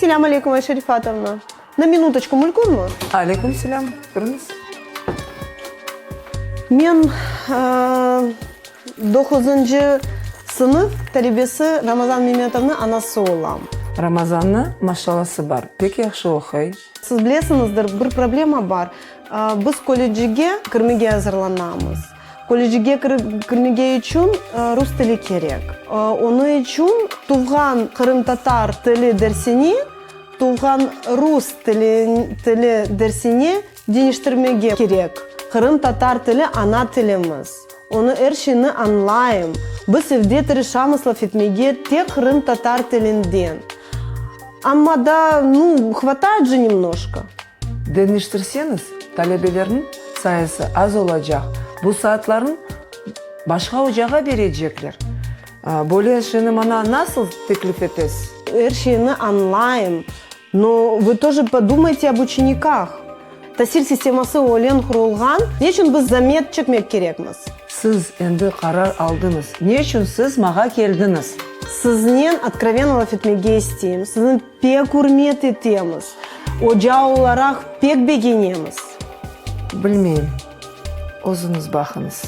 Selâm aleyküm, Ayşe Rifatovna! Na minutçku mülkünmi? Aleyküm selâm, kiriñiz. Men doquzıncı sınıf talebesi Ramazan Memetovnıñ anası olam. Ramazannıñ maşalası bar, pek yahşı oquy. Siz bilesiñizdir, bir problema bar, biz kollecige kirmege azırlanamız. Kollecige kirmege içün rus tili kerek. Onı içün tuvğan qırımtatar tili dersini tuvğan rus tili dersine deñiştirmege kerek. Qırımtatar tili ana tilimiz. Onı er şeyni añlayım. Biz evde tırışamız laf etmege tek qırımtatar tilinden. Amma da, nu, hvatayt je nemnoşka. Deñiştirseñiz, talebelerniñ sayısı az olacaq, bu saatlarnı başqa ocağa berecekler. Böyle şeyni maña nasıl teklif etesiz? Er şeyni añlayım. No vı toje podumayte ob uçenikah? Tasil sisteması ölen qurulğan, neçün biz zamet çekmek kerekmiz? Siz endi qarar aldıñız. Neçün siz mağa keldiñiz? Siznen otkrovenno laf etmege isteyim. Sizni pek ürmet etemiz. Oca olaraq pek begenemiz. Bilmeyim. Özüñiz baqıñız.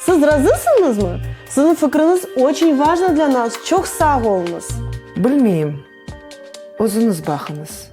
Siz razısıñızmı? Siziñ fikriñiz oçün vajno dla nas. Çoq sağ oluñız. Bilmeyim. Özüñiz baqıñız.